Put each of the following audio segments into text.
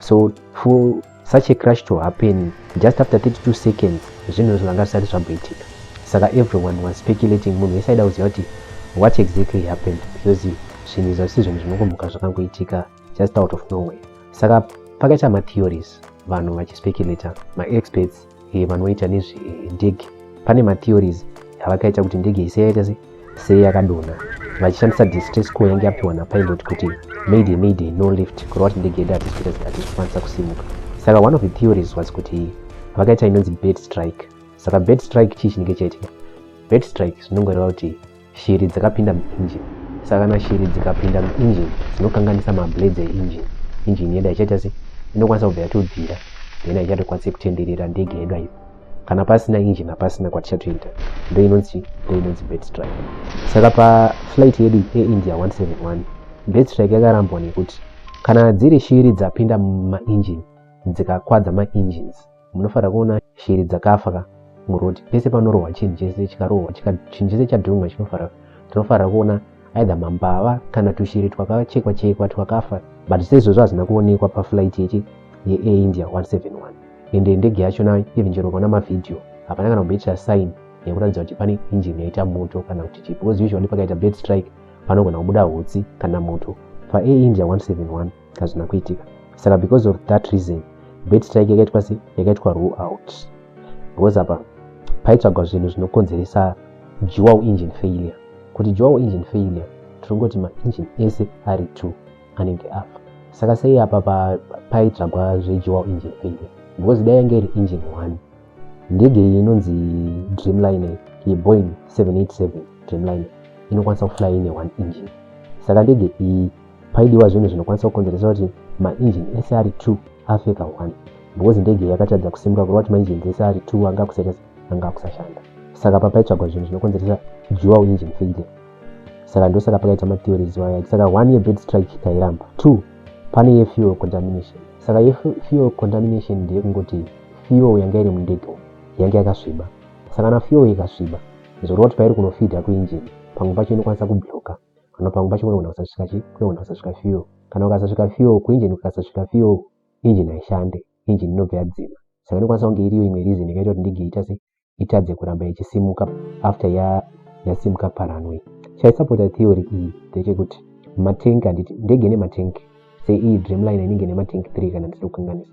so for such a crush to happen just after 32 seconds zvinhu zvanga zvisati zvamboitika saka everyone was speculating munhu wese aida kuziva kuti what exactly happened because zvinhu izvo si zvinhu zvinongomuka zvakangoitika just out of nowhere saka pakaita matheories vanhu vachispeculator maexperts e, vanoita nezvendege pane matheories avakaita kuti ndege ise yaita se sei yakadonha vachishandisa distress call yange yapiwa napilot kuti mayday mayday no lift kureva kuti ndege yedu hatisi kukwanisa kusimuka saka one of the theories was kuti vakaita inonzi bed strike saka bed strike chii chinenge chaitika bed strike zvinongoreva kuti Shiri dzakapinda muinjini. Saka kana shiri dzikapinda muinjini dzinokanganisa mablades einjini. Injini yedu haichaita sei? Inokwanisa kubva yatobvira then haichatokwanisi kutenderera ndege yedu aipo. Kana pasina injini hapasina kwatichatoita. Ndo inonzi ndo inonzi bird strike. Saka paflight yedu yeIndia 171 bird strike yakarambwa nekuti kana dziri shiri dzapinda mumainjini dzikakwadza maengines munofanira kuona shiri dzakafa ka muroad pese panorohwa chinhu chese chikarohwa chinhu chese chadhumwa chinofanira tinofanira kuona either mambava kana tushiri twakachekwa chekwa twakafa but seizvozvo hazvina kuonekwa paflight yechi yeindia 171 ende ndege yacho na even chero ukaona mavhidhiyo hapana kana kumboitira sign yekuratidza kuti pane injini yaita moto kana kuti chii because usually pakaita bed strike panogona kubuda hutsi kana moto paindia 171 hazvina kuitika saka because of that reason bet strike yakaitwa se yakaitwa rule out because apa paitsvagwa zvinhu zvinokonzeresa dual engine failure kuti dual engine failure tinongoti maengine ese ari two anenge afa saka sei apa paitsvagwa zvedual engine failure because dai yange iri engine one ndege iyi inonzi dreamliner yeboing 787 dreamliner inokwanisa kufly ine one engine saka ndege iyi paidiwa zvinhu zvinokwanisa kukonzeresa kuti mainjini ese ari two afe kaone because ndege iyi yakatadza kusimuka kureva kuti mainjini dzese ari two anga akusetesa anga akusashanda saka papaitsvagwa zvinhu zvinokonzeresa dual engine failure saka ndosaka pakaita matheories waya saka one year bed strike tairamba two pane yefuel contamination saka yefuel contamination ndeyekungoti fuel yanga iri mundege umu yange yakasviba saka na fuel ikasviba zorova kuti pairi kunofidha kuinjini pamwe pacho inokwanisa kubloka kana pamwe pacho kunogona kusasvika chi kunogona kusasvika fuel kana ukasasvika fuel kuinjini ukasasvika fuel injini haishande injini inobva yadzima saka inokwanisa kunge iriyo imwe reason yakaita kuti ndege iita se itadze kuramba ichisimuka after ya yasimuka paranway chaisapota theory iyi ndechekuti matank handiti ndege nematank seiyi dreamline inenge nematank 3 kana ndisiri kukanganisa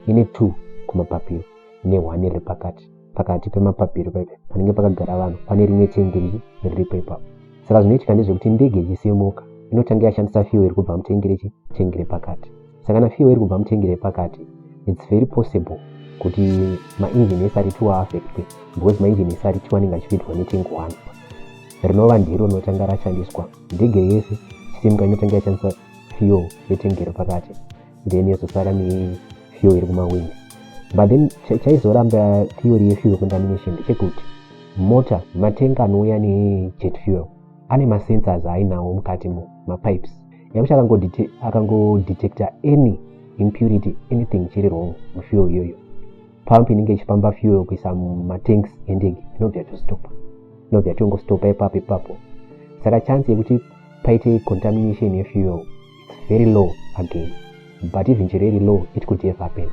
ine 2 kumapapiro nehwani riri pakati pakati pemapapiro paipe panenge pakagara vanhu pane rimwe tengi riri riripo ipapo saka zvinoitika ndezvekuti ndege ichisimuka inotanga yashandisa fuel kubva mutengi rechi tengi repakati saka nafiwa iri kubva mutengi repakati its very possible kuti maengine ese aritiwa afectwe because maengine ese aritiwa anenge achipindwa netengi one rinova ndiro rinotanga rashandiswa ndege yese chisimka inotanga yashandisa fuel yetengi repakati then yozosara nefuel iri kumawindi but then chaizoramba theory yefuel contamination ndechekuti mota matenga anouya nejet fuel ane masensors ainawo mukati mo mapipes nekuti akangodetecta any impurity anything chiri wrong mufuel iyoyo pump inenge ichipamba fuel kuisa mumatanks endege inobva yatostopa inobva yatongostopa ipapo ipapo saka chance yekuti paite contamination yefuel its very low again but even chero iri low it could have happened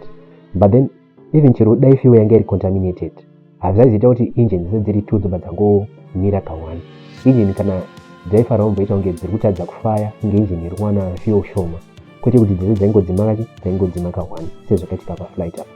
but then even chero dai fuel yanga iri contaminated hazvaizoita kuti engine dzise dziri two dzobva dzangomira kawani engine kana dzaifara womboita kunge dziri kutadza kufaya kunge engine iri kuwana fuel shoma kwete kuti dzese dzaingodzima kachi dzaingodzima kawani sezvakaitika paflight apa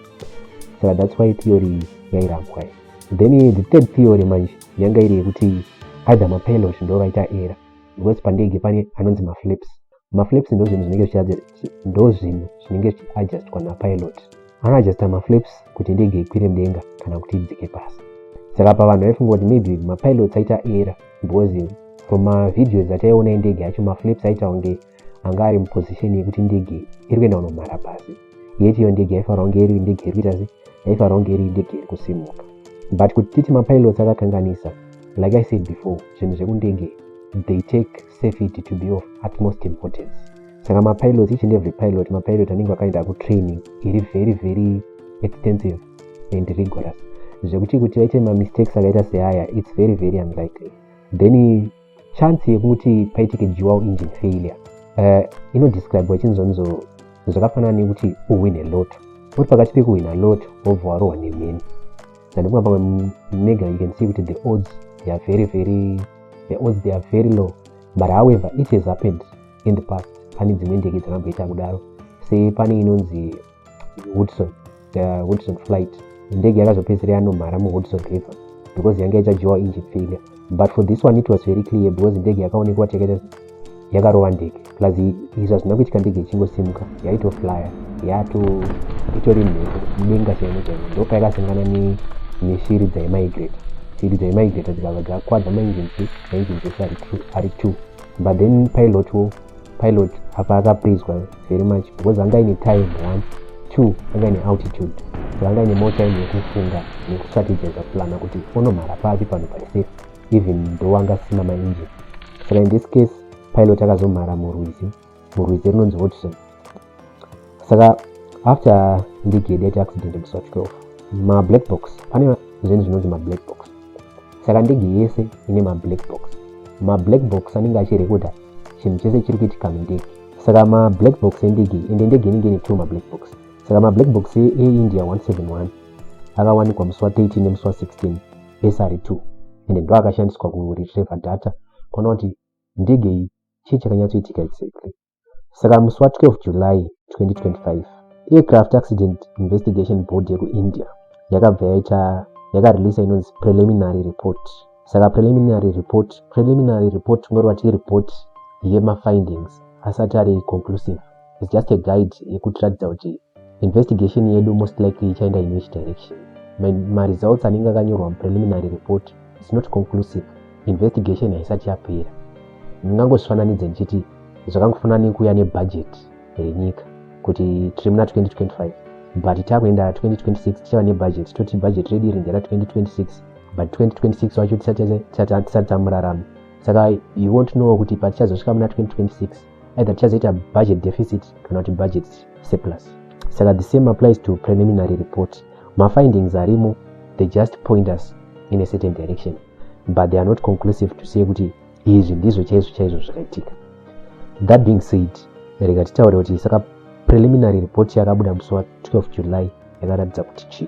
saka thats why theory yairambwa iyi then the third theory manje yanga iri yekuti either mapilot ndo vaita era because pandege pane anonzi maflips maflips ndo zvinhu zvinenge ndo zvinhu zvinenge zvichiadjustwa napilot anoadjusta maflips kuti ndege ikwire mudenga kana kuti idzike pasi saka pavanhu vaifunga kuti maybe mapilots aita era because from mavideos ataiona endege yacho maflips aita kunge anga ari muposition yekuti ndege iri kuenda kunomhara pasi yeti iyo ndege yaifanira kunge iri ndege iri kuita sei yaifanira kunge iri ndege iri kusimuka but kuti titi mapilots akakanganisa like i said before zvinhu zvekundenge they take safety to be of utmost importance saka mapilots each and every pilot mapilot anenge akaenda kutraining iri very very extensive and rigorous zvekuti kuti vaite mamistakes akaita seaya its very very unlikely then chance yekuti paitike dual engine failure uh, inodescribe wachinzonzo zvakafanana nekuti uhwine loto uri pakati pekuhwina loto wobva warohwa nemheni ndandikunga pamwe mega you can see kuti the odds they are very very the odds they are very low but however it has happened in the past pane dzimwe ndege dzakamboita kudaro sepane inonzi hudson uh, hudson flight ndege yakazopedzera yanomhara muhudson river because yange yachajiwa engine failure but for this one it was very clear because ndege yakaonekwa chekete yakarova ndege plus izvi hazvina kuitika ndege ichingosimuka yaitoflyer yato itori mhepo denga chaimo chaimo ndopayakasangana neshiri dzaimigrate shiri dzaimigrate dzikabva dzakwadza mainjinsi mainjinsi ese ari two but then pilot wo pilot apa akaprizwa very much because anga ine time one two anga ine altitude so anga ine more time yekufunga nekustrategiza plana kuti onomhara papi pano pari safe even though anga asina maengine saka in this case pilot akazomhara murwizi murwizi rinonzi watson saka after ndigedi yaita accident musi wa 12 mablack box pane zvinhu zvinonzi mablack box saka ndege yese ine mablack box mablack box anenge achirekodha chinhu chese chiri kuitika mundege saka mablack box endege ende ndege inenge ine two mablack box saka mablack box eindia 171 akawanikwa musi wa 13 nemusi wa 16 esary 2 ende ndo akashandiswa kuretreva data kuona kuti ndege iyi chii chakanyatsoitika exactly saka musi wa 12 july 2025 aircraft accident investigation board yekuindia yakabva yaita yakareleasa inonzi preliminary report saka preliminary report preliminary report tingoreva ti report yemafindings asati ari conclusive is just a guide yekutiratidza kuti investigation yedu most likely ichaenda in which direction maresults anenge akanyorwa mupreliminary report is not conclusive investigation haisati yapera ndingangozvifananidze ndichiti zvakangofanana nekuuya nebhajeti renyika kuti tiri muna 2025 but takuenda 2026 tichava nebudget toti budget redu iri ndera 2026 but 2026 wacho tisati tamurarama saka you won't know kuti patichazosvika muna 2026 either tichazoita budget deficit kana kuti budget surplus saka the same applies to preliminary report mafindings arimo they just point us in a certain direction but they are not conclusive to say kuti izvi ndizvo chaizvo chaizvo zvakaitika that being said rega titaure kuti saka preliminary report yakabuda musi wa 12 july yakaratidza kuti chii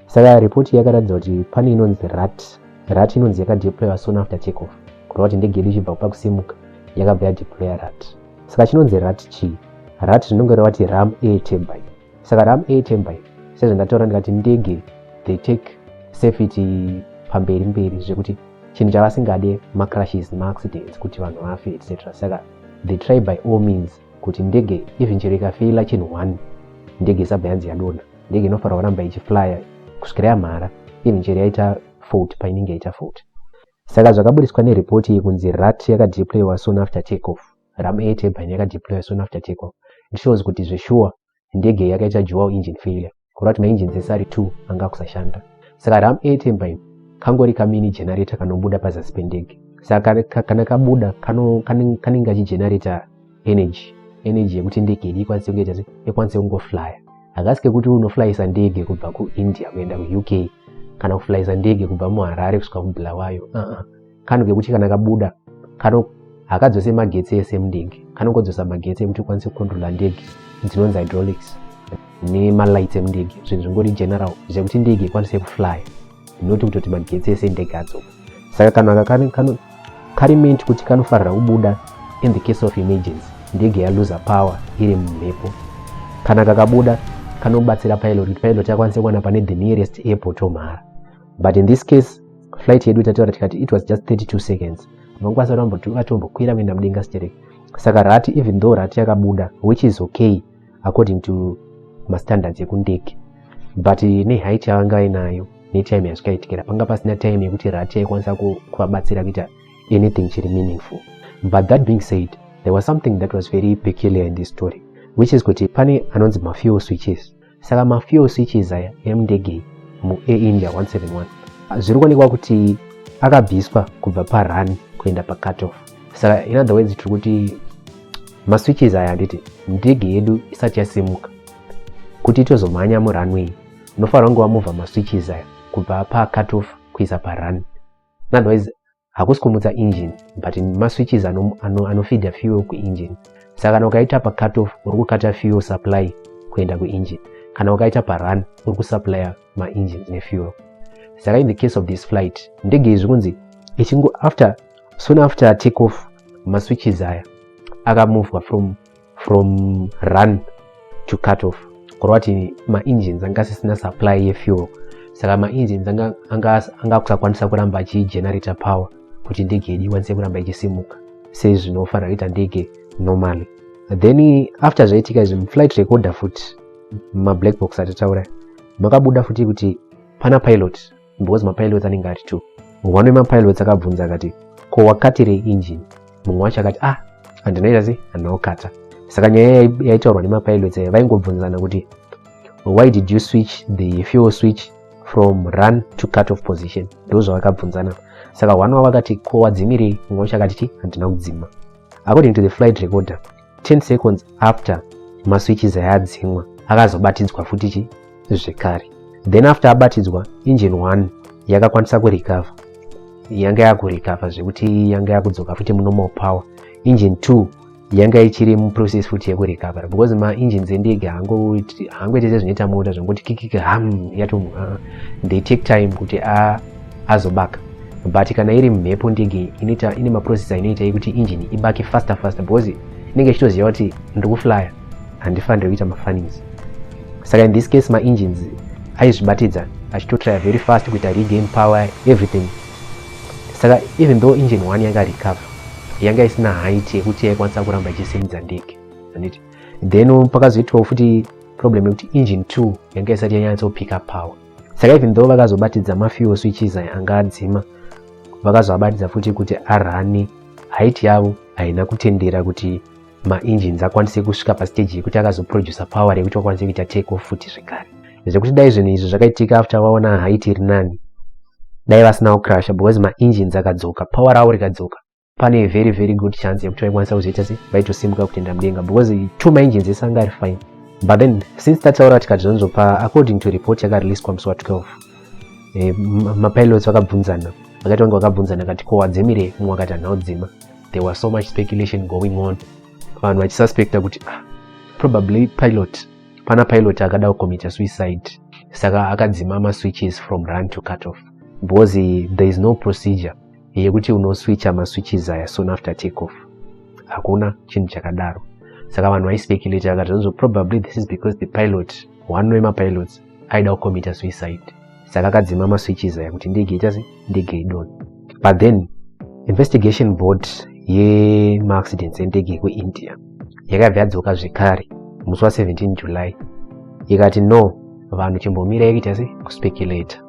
saka report yakaratidza kuti pane inonzi rat rat inonzi yakadeployiwa soon after take off kureva kuti ndege yedu ichibva kupa kusimuka yakabva yadeploya rat saka chinonzi rat chii rat rinonge revati ram air turbine saka ram atembai sezvandataura ndikati ndege they take safety pamberi mberi zvekuti chinhu chavasingade macrashes nemaaccidents kuti vanhu vafe etc saka they try by all means kuti ndege even chero ikafeila chinhu one ndege isabva yanzi yadona ndege inofanira kuramba ichiflya kusvikira yamhara even chero yaita fault painenge yaita fault saka zvakabudiswa neripoti iyi kunzi rat yakadeploywa soon after take off ram 8 yebhaini yakadeploya soon after take off it shows kuti zveshuwa ndege yakaita dual engine failure kureva kuti mainjini dzese ari 2 anga akusashanda saka ram 8 yebhaini kangori kamini generator kanobuda pazasi pendege saka kana kabuda kanenge kachigenerator energy energy yekuti ndege idi ikwanise kunge chase ikwanise kungoflya hakasi kekuti unoflyisa ndege kubva kuindia kuenda kuuk kana kuflyisa ndege kubva muharare kusvika kubulawayo uh-uh. kano kekuti kana kabuda kano hakadzose magetsi ese emudenge kanongodzosa magetsi ekuti ukwanise kukontrola ndege dzinonzi hydraulics nemalights emudege zvinhu zvingori general zvekuti ndege ikwanise kuflya not kutoti magetsi ese ndege adzoka saka kano aka kari meant kuti kanofarira kubuda in the case of emergency ndege yaluza power iri mumhepo kana kakabuda kanobatsira pilot kuti pilot akwanise kuwana pane the nearest airport omhara but in this case flight yedu tataura tikati it was just 32 seconds vanokwanisa kuti vamboti vatombokwira kuenda mudenga stereki saka rati even though rati yakabuda which is okay according to mastandards ekundege but nehait yavanga vainayo netime yazvikaitikira panga pasina time yekuti rati yaikwanisa kuvabatsira kuita anything chiri meaningful but that being said there was something that was very peculiar in this story which is kuti pane anonzi mafuel switches saka mafuel switches aya emundege muair india 171 zviri kuonekwa kuti akabviswa kubva parun kuenda pacatoff saka in other words tiri kuti maswitches aya handiti ndege yedu isati yasimuka kuti itozomhanya murunway inofanira kunge wamuvha maswitches aya kubva pacatoff kuisa parun in other words hakusi kumutsa engine but maswitches anofeeda ano, ano fuel kuengine saka kana ukaita pacut off uri kukata fuel supply kuenda kuengine kana ukaita parun uri kusuplya maengines nefuel saka in the case of this flight ndege izvi kunzi ichingo after soon after take off maswitches aya akamuvwa from from run to cut off kureva kuti maengines anga asisina supply yefuel saka maengines anga akusakwanisa anga kuramba achigenerator power kuti ndege yedu ikwanise kuramba ichisimuka sezvinofanira kuita ndege normally then after zvaitika izvi muflight recorder futi mablack box atitaura makabuda futi kuti pana pilot because mapilots anenge ari two one wemapilots akabvunza akati ko wakatirei engine mumwe wacho akati ah handinaita sei handina kukata saka nyaya yaitaurwa nemapilots aya vaingobvunzana kuti why did you switch the fuel switch from run to cut off position ndo zvavakabvunzana saka one wavo akati ko wadzimirei mumwe wacho akati ti handina kudzima according to the flight recorder 10 seconds after maswitches aya adzimwa akazobatidzwa futi chi zvekare then after abatidzwa engine 1 yakakwanisa kurecover yanga yakurecover zvekuti yanga yakudzoka futi munormal power engine 2 yanga ichiri muprocess futi yekurecover because maengines endege haangoite sezvinoita mota zvangoti kikiki ham yato uh, they take time kuti a ah, azobaka but kana iri mhepo ndege inoita ine maprocessor inoita yekuti engine ibake faster faster because inenge ichitoziva kuti ndiri kuflyer handifanire kuita mafanisi saka in this case maengines aizvibatidza achitotrya very fast kuita regain power everything saka even though engine one yanga recover yanga isina height yekuti yaikwanisa kuramba ichisimudza ndege anditi then pakazoitwawo futi problem yekuti engine two yanga isati yanyatsopick up power saka even though vakazobatidza mafuel switches aya anga adzima vakazoabatidza futi kuti arane haiti yavo haina kutendera kuti maengines akwanise kusvika pasteji yekuti akazoproducer power rekuti vakwanise kuita take off futi zvekare zvekuti dai zvinhu izvi zvakaitika after vaona haiti iri nani dai vasinawo crusher because maengines akadzoka power ravo rikadzoka pane very very good chance yekuti vaikwanisa kuzoita se vaitosimuka kutenda mudenga because two maengines ese anga ari fine but then since tataura tikati zvanzopa according to report yakareleaswa musi wa 12 e, eh, mapilots vakabvunzana vakati vange vakabvunzana kati ko wadzimire mumwe akati hanha udzima there was so much speculation going on vanhu vachisuspecta kuti ah, probably pilot pana pilot akada kucommitta suicide saka akadzima maswitches from run to cut off because there is no procedure yekuti unoswicha maswitches aya soon after take off hakuna chinhu chakadaro saka vanhu vaispeculate vakati zvanzo probably this is because the pilot one wemapilots aida kukomita suicide saka akadzima maswitches aya kuti ndege ita se ndege idon but then investigation board yemaaccidents endege yekuindia yakabva yadzoka zvekare musi wa 17 july ikati no vanhu chimbomirai kuita se kuspeculator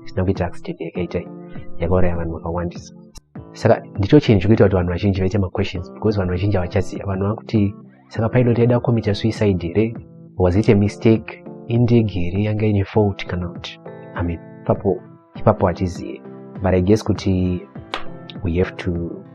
zvisina kuitira accident yakaita yakauraya vanhu vakawandisa saka ndicho chinhu chikuita kuti vanhu vazhinji vaite maquestions because vanhu vazhinji havachaziva vanhu vakuti saka painoti aida kukomita suicide here was it a mistake indege here yanga ine fault kana kuti i mean ipapo ipapo hatizive but i guess kuti we have to